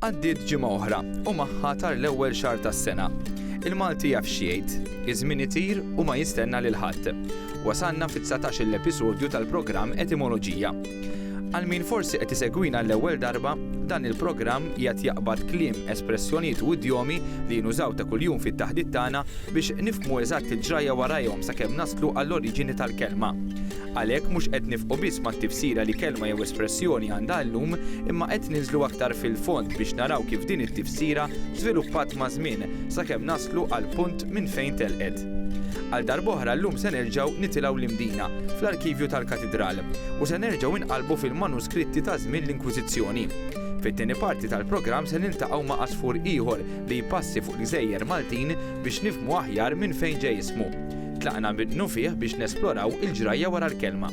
Għaddiet ġimgħa oħra u magħha tar l-ewwel xahar tas-sena. Il-Malti jaf x'jgħid, iż-żmien itir u ma jistenna lil ħadd. Wasalna fit-19-il episodju tal-programm Etimoloġija. Għal min forsi qed isegwina għall-ewwel darba, dan il-programm qiegħed jaqbad kliem, espressjonijiet u idjomi li nużaw ta' kuljum fit-taħdit tagħna biex nifhmu eżatt il-ġrajja warajhom sakemm naslu għall-oriġini tal-kelma. Għalhekk mhux qed nifqu biss mat-tifsira li kelma jew espressjoni għandha llum, imma qed ninżlu aktar fil-fond biex naraw kif din it-tifsira żviluppat maż-żmien sakemm naslu għall-punt minn fejn telqet. Għal darb'oħra llum se nerġgħu nitilgħu l-Imdina, fl-arkivju tal-Katidral, u se nerġgħu nqallbu fil-manuskritti ta' żmien l-Inkwiżizzjoni. Fit-tieni parti tal-programm se niltaqgħu ma' għasfur ieħor li jpassi fuq l-gżejjer Maltin biex nifhmu aħjar minn fejn ġej ismu. Tlaqna minnufih biex nesploraw il-ġrajja wara l-kelma.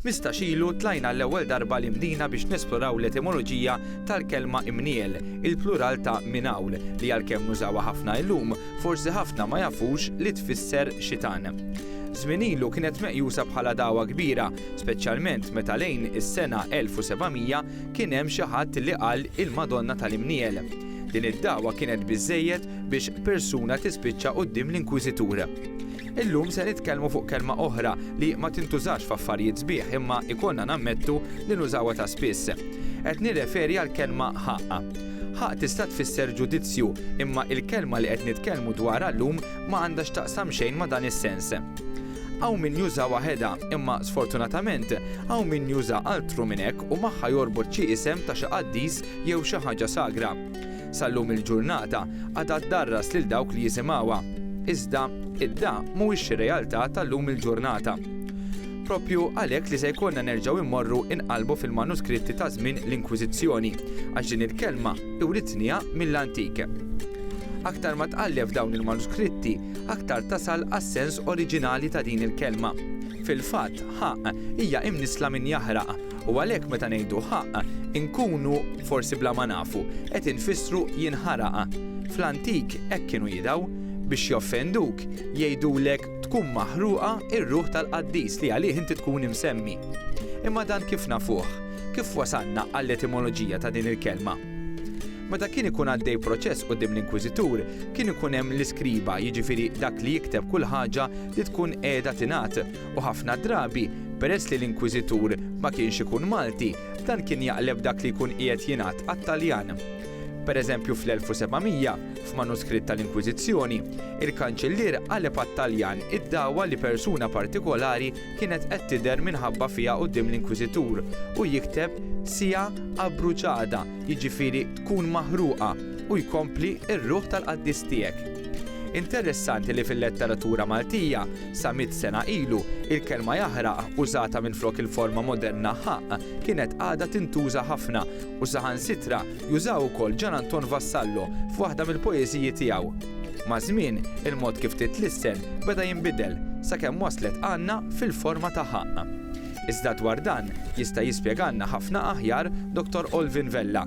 Mistax ilu tlajna għall-ewwel darba 'l Imdina biex nesploraw l-etimoloġija tal-kelma Imniel, il-plural ta' Minawl, li għalkemm nużawha ħafna illum, forsi ħafna ma jafux li tfisser xitan. Żmien ilu kienet meqjusa bħala dagħwa kbira, speċjalment meta lejn is-sena 1700 kien hemm xi ħadd li qal il-Madonna tal-Imniel. Din id-dagħwa kienet biżżejjed biex persuna tispiċċa quddiem l-Inkwiżitur. Illum se nitkellmu fuq kelma oħra li ma tintużax f'affarijiet sbieħ imma ikollna nammettu li nużawha ta' spiss. Qed nirreferi għall-kelma ħaqq. Ħaqq tista' tfisser ġudizzju, imma il-kelma li qed nitkellmu dwarha llum ma għandha x'taqsam xejn ma' dan is-sens. Hawn min juża waħedha, imma sfortunatament hawn min juża altru minn hekk u magħha jorbot xi isem ta' xi qaddis jew xi ħaġa sagra. Sal-lum il-ġurnata għadha ddarras lil dawk li jisimgħuha. Iżda, id-da mhuwiex xi realtà tal-lum il-ġurnata. Proprju għalhekk li se jkollna nerġgħu immorru inqallbu fil-manuskritti ta' żmien l-Inkwiżizzjoni, għax din il-kelma iwritniha mill-antik. Aktar ma tqalleb f'dawn il-manuskritti, aktar tasal għas-sens oriġinali ta' din il-kelma. Fil-fatt, ħaqq, hija imnissla minn jaħraq, U għalhekk meta ngħidu ħaqq, inkunu, forsi bla ma nafu, qed infissru jinħaraq. Fl-antik hekk kienu jidgħu. Biex joffenduk, jgħidulek tkun maħruqa r-ruħ tal-qaddis li għalih inti tkun imsemmi. Imma dan kif nafuh? Kif wasalna għall-etimoloġija ta' din il-kelma? Meta kien ikun għaddej proċess quddiem l-inkwiżitur, kien ikun hemm l-iskriba, jiġifieri dak li jikteb kull ħaġa li tkun qiegħda tingħad, u ħafna drabi, peress li l-Inkwiżitur ma kienx ikun Malti, dan kien jaqleb dak li jkun qiegħed jingħad għat-Taljan. Pereżempju fl-1700, f'manuskritt tal-Inkwiżizzjoni, il-Kanċillier qaleb għat-Taljan id-dagħwa li persuna partikolari kienet qed tidher minħabba fiha quddiem l-Inkwiżitur u jikteb sea abbruciada, jiġifieri tkun maħruqa, u jkompli r-ruħ tal-qaddis tiegħek. Interessanti li fil-letteratura Maltija, sa mitt sena ilu, il-kelma jaħraq, użata minflok il-forma moderna ħaqq, kienet għadha tintuża ħafna, u saħansitra jużaha wkoll Ġan Anton Vassallo f'waħda mill-poeżiji tiegħu. Maż-żmien, il-mod kif titlissen beda jinbidel, sakemm waslet għandna fil-forma ta' ħaqq. Iżda dwar dan jista' jispjegalna ħafna aħjar Dottor Olvin Vella,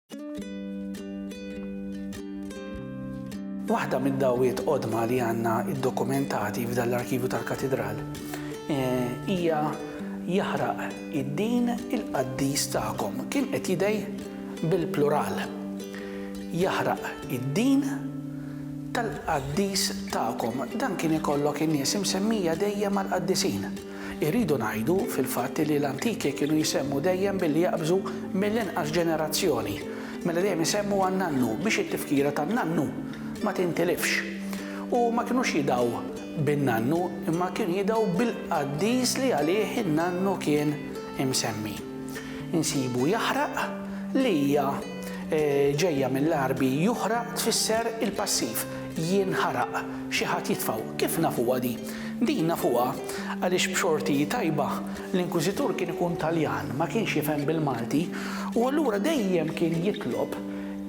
Waħda mid-dgħawiet qodma li għandna ddokumentati f'dan l-arkivju tal-Katidral hija jaħraq id-din il-qaddis tagħkom. Kien qed jidgħi bil-plural. Jaħraq id-din tal-qaddis tagħkom. Dan kien ikollok in-nies imsemmija dejjem mal-qaddisin. Irridu ngħidu, fil-fatt, li l-antiki kienu jsemmu dejjem billi jaqbżu mill-inqas ġenerazzjoni, mela dejjem isemmu għan-nannu biex it-tifkira tan-nannu ma tintilifx. U ma kinux jidgħu bin-nannu imma kienu jidgħu bil-qaddis li għalih in-nannu kien imsemmi. Insibu jaħraq li hija ġejja mill-Għarbi juħraq tfisser il-passiv, jinħaraq, xi ħadd jitfgħu. Kif nafuha di? Din nafuha għaliex b'xorti tajba, l-Inkwiżitur kien ikun Taljan, ma kienx jifhem bil-Malti, u allura dejjem kien jitlob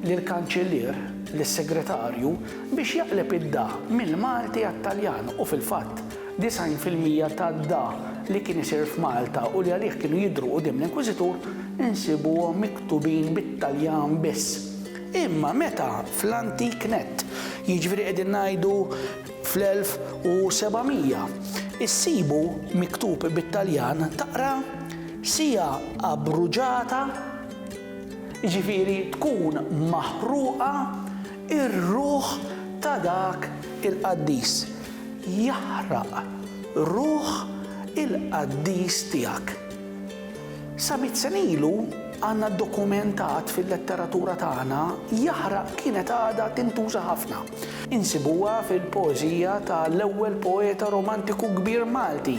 lill-Kanċillier, lis-Segretarju, biex jaqleb id-da mill-Malti għat-Taljan u fil-fatt, 90 fil-mija tad-da li kien isir f'Malta u li għalih kienu jidhru quddiem l-Inkwiżitur insibuhom miktubin bit-Taljan biss. Imma meta fl-antik nett, jiġifieri qegħdin ngħidu Fl-1700, issibu miktub bit-Taljan taqra Sia abbruġata, jiġifieri tkun maħruqa, ir-ruħ ta' dak il-qaddis, jaħraq ruħ il-qaddis tiegħek. Sa mitt sena ilu, għandna dokumentat fil-letteratura tagħna, jaħraq kienet għadha tintuża ħafna. Insibuha fil-poeżija ta' l-ewwel poeta romantiku kbir Malti,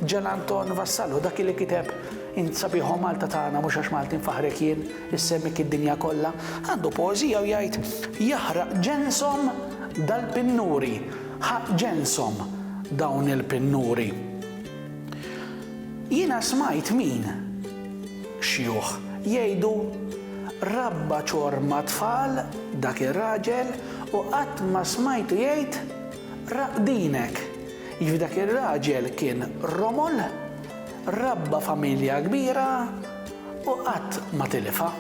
Ġan Anton Vassallo, dak li kiteb Int sabiħ o Malta tagħna, mhux għax Malti nfaħħrek jien, issemmik id-dinja kollha. Għandu poeżija u jgħid, Jaħraq ġenshom dal-pinnuri, ħaqq ġenshom dawn il-pinnuri. Jiena smajt min, xjuħ, jgħidu, Rabba ċorma tfal dak ir-raġel u qatt ma smajtu jgħid, Raqdinek! Jiġifieri dak ir-raġel kien romol, rabba familja kbira u qatt ma tilifha.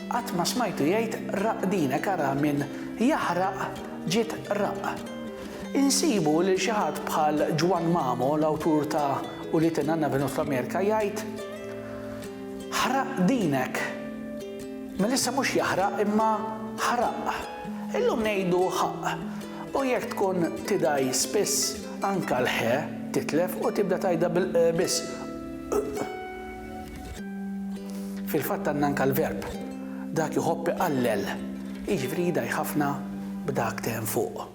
Qatt ma smajtu jgħid, Raqdinek, ara min jaħraq ġiet raqq. Insibu lil xi ħadd bħal Juan Mamo, l-awtur ta' Ulied in-Nanna Venus fl-Amerika, jgħid, Ħraq dinek. Mela issa mhux jaħraq imma ħraq. Illum ngħidu ħaqq. U jekk tkun tidgħi spiss, anke l-ħe titlef u tibda tgħidha bil-q biss, q. Fil-fatt għandna anke l-verb, dak iħobb iqallel, jiġifieri jdgħi ħafna b'dak te hemm fuq.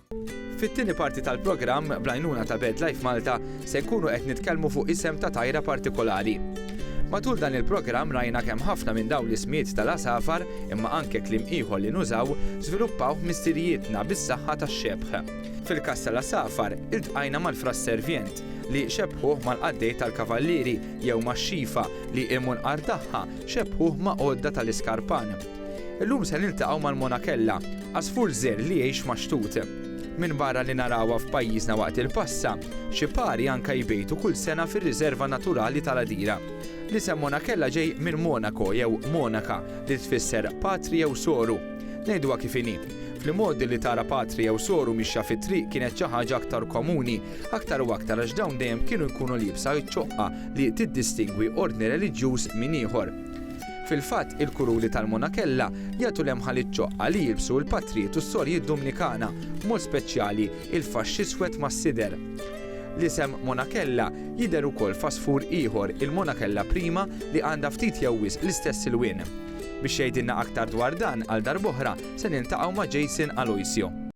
Fit-tieni parti tal-programm, bl-għajnuna ta' BirdLife Malta, se nkunu qed nitkellmu fuq isem ta' tajra partikolari. Matul dan il-programm rajna kemm ħafna minn dawn l-ismijiet tal-għasafar, imma anke kliem ieħor li nużaw, żviluppawh missirijietna bis-saħħa tax-xebħ. Fil-każ tal-għasafar, iltqajna mal-frass servjent, li xebbħuh mal-qaddej tal-kavallieri, jew max-xifa, li immunqar tagħha, xebbħuh ma' għodda tal-iskarpan. Illum se niltaqgħu mal-monakella, għasfur żerr li jgħix max-xtut. Minbarra li narawha f'pajjiżna waqt il-passa, xi pari anke jbejtu kull sena fir-Riserva Naturali tal-Għadira. L-isem monakella ġej minn monaco jew monaca li tfisser patri jew soru. Ngħiduha kif inhi, fl-imgħoddi li tara patri jew soru mixja fit-triq kienet xi ħaġa aktar komuni, aktar u aktar għax dawn dejjem kienu jkunu liebsa ċ-ċoqqa li tiddistingwi ordni reliġjuż minn ieħor. Fil-fatt, il-kuruli tal-monakella jagħtu lemħa iċ-ċoqqa li jilbsu l-patrijiet u s-sorijiet Dumnikana, b'mod speċjali, il-faxx iswed mas-sider. L-isem monakella jidher ukoll f'għasfur ieħor, il-monakella prima, li għandha ftit jew wisq l-istess ilwien. Biex jgħidilna aktar dwar dan, għal darb'oħra, se niltaqgħu ma' Jason Aloisio.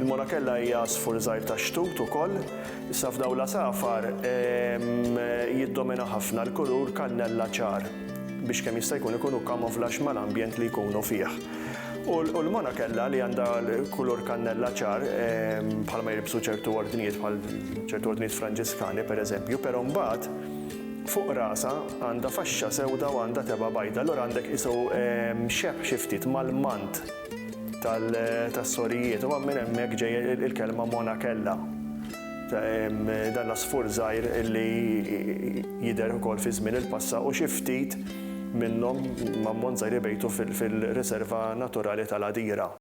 Il-monakella hija għasfur żgħir tax-xtut ukoll. Issa f'dawn l-għasafar jiddomina ħafna l-kulur kannella ċar biex kemm jista' jkun ikunu kamoflax mal-ambjent li jkunu fih. U l-monakella li għandha kulur kannella ċar bħalma jilbsu ċertu ordnijiet bħal ċertu ordnijiet Franġiskani pereżempju, però mbagħad, Fuq rasha għandha faxxa sewda u għandha tebgħa bajda, allura għandha tqisu xebh xi ftit mal-mant tas-sorijiet u minn hemmhekk ġej il-kelma monakella, dan l-għasfur żgħir li jidher ukoll fi żmien il-passa u xi ftit minnhom, ammont żgħir ibejtu fil-Riserva Naturali tal-Għadira.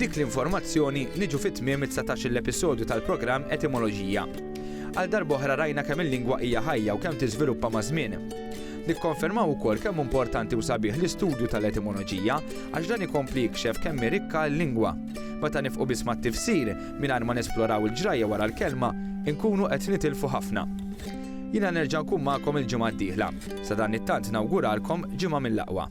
B'dik l-informazzjoni niġu fi tmiem it-dsatax-il episodju tal-programm Etimoloġija. Għal darb'oħra rajna kemm il-lingwa hija ħajja u kemm tiżviluppa maż-żmien. Nikkonfermaw ukoll kemm hu importanti u sabiħ l-istudju tal-etimoloġija għax dan ikompli jikxef kemm hi rikka l-lingwa. Meta nifqu biss mat-tifsir, mingħajr ma nesploraw il-ġrajja wara l-kelma, inkunu qed nitilfu ħafna. Jiena nerġa' nkun magħkom il-ġimgħa d-dieħla. Sadanittant nawguralkom ġimgħa mill-aqwa.